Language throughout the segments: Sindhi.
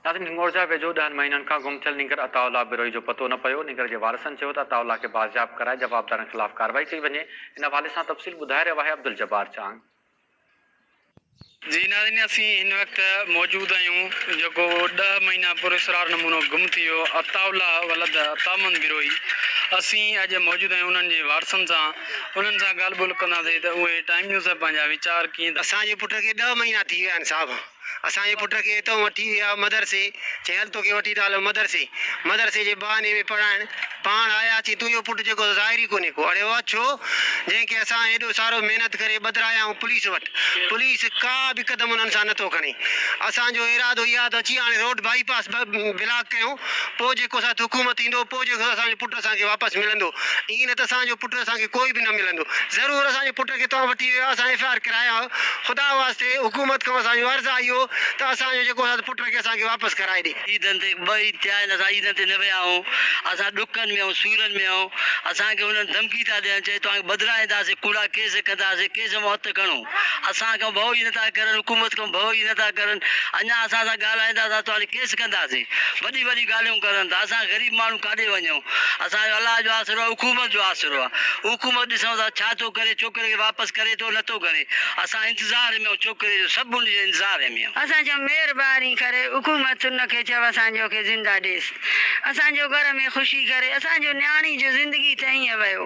ناظرين هنڱورجا ويجهو ڏهن مهينن کان گم ٿيل نينگر عطاء الله بروهي جو پتو نه پيو، نينگر جي وارثن چيو ته عطاء الله کي بازياب ڪرائي جوابدارن خلاف ڪارروائي ڪئي وڃي، ان حوالي سان تفصيل ٻڌائي رهيو آهي عبدالجبار چانگ. جي ناظرين اسين هن وقت موجود آهيون جيڪو ڏهه مهينا پراسرار نمونو گم ٿي ويو عطاء الله ولد عطاء محمد بروهي اسين اڄ موجود آهيون انهن جي وارثن سان انهن سان ڳالهه ٻولهه ڪنداسين ته اهي ٽائيم نيوز سان پنهنجا ويچار ڪيئن ٿا اسان جي پٽ کي ڏهه مهينا ٿي ويا آهن صاحب اسان جي پٽ کي اتئون وٺي ويا مدرسي. چيائين هل توکي وٺي ٿا هلون مدرسي. مدرسي جي بهاني ۾ پڙهائڻ. پاڻ آيا اچي تون اهو پٽ جيڪو ظاهر ئي ڪونهي ڪو. اڙي واهه ڇو؟ جنهن کي اسان هيڏو سارو محنت ڪري ٻڌرايائون پوليس وٽ. پوليس ڪا به قدم انهن سان نٿو کڻي. اسان جو ارادو اهو ته اچي هاڻي روڊ بائي پاس بلاڪ ڪيون. پوء جيڪو اسان تي حڪومت ايندو، پوء جيڪو اسان جو پٽ اسان کي واپس ملندو. ائين نه ته اسان جو پٽ اسان کي ڪوئي به نه ملندو. ضرور اسان جي پٽ کي توهان وٺي ويا، اسان ايف آء آر ڪرايا ها. خدا واسطي حڪومت کان اسان جو عرض آهي اهو ته اسان جو جيڪو اسان پٽ کي اسان کي واپس ڪرائي ڏي. عيدن تي ٻه عيد ٿيا آهن اسان عيدن تي نه ويا آهيون. اسان ڏکن ۾ آهيون، سورن ۾ آهيون. اسان کي هنن ڌمڪي ٿا ڏين، چئي توهان کي بدران اينداسين، ڪوڙا ڪيس ڪنداسين، ڪيس مون هٿ کڻو. اسان کان ڀؤ ئي نٿا ڪرن، حڪومت کان ڀؤ ئي نٿا ڪرن، اڃا اسان سان ڳالهائيندا ته توهان تي ڪيس ڪنداسين، وڏي وڏي ڳالهيون ڪرن ٿا، اسان غريب ماڻهو ڪاڏي وڃون، اسان جو الله جو آسرو آهي، حڪومت جو آسرو آهي، حڪومت ڏسون ٿا ڇا ٿو ڪري، ڇوڪري کي واپس ڪري ٿو نٿو ڪري، اسان انتظار ۾ آهيون ڇوڪري جو، سڀ ان جي انتظار ۾ آهيون. اسان چيو مهرباني ڪري حڪومت ان کي چئو اسان جو کي زنده ڏيس، اسان جو گهر ۾ خوشي ڪري، اسان جو نياڻي جو زندگي ته ائين ويو.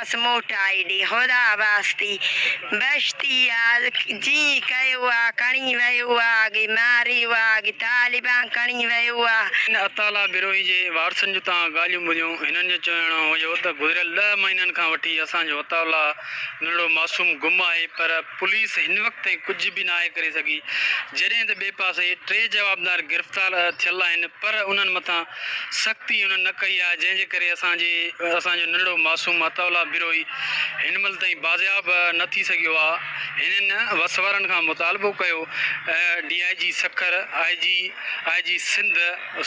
ڪيس موٽائي ڏي خدا واسطي بهشتي يار جي ڪيو آ کڻي ويو آ اڳي ماريو آ اڳي طالبان کڻي ويو آ. ان اطالع بروهي جي وارثن جون تان ڳالهيون ٻڌيون، هنن جو چوڻ هيو ته گذريل ڏهه مهينن کان وٺي اسان جو اطالع نڙو معصوم گم آهي پر پوليس هن وقت تائين ڪجهه به ناهي ڪري سگهي جڏهن ته ٻئي پاسي ٽي جوابدار گرفتار ٿيل آهن پر انهن مٿان سختي انهن نه ڪئي آهي، جنهن جي ڪري اسان جي اسان جو ننڍڙو معصوم عطاء الله بروهي هن مهل تائين بازياب نه ٿي سگهيو آهي، هنن وس وارن کان مطالبو ڪيو ته D I G Sukkur, I G, I G Sindh,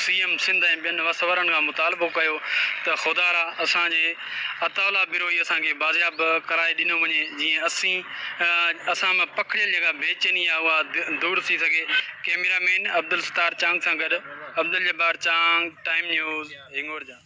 C M Sindh ۽ ٻين وس وارن کان مطالبو ڪيو ته خدارا اسان جي عطاء الله بروهي اسان کي بازياب ڪرائي ڏنو وڃي جيئن اسين اسان مان پکڙيل جيڪا بي چيني آهي اها دور ٿي سگهي. ڪيميرا مين عبدالستار چانگ سان گڏ عبدالجبار چانگ، ٽائيم نيوز، هنگور جا.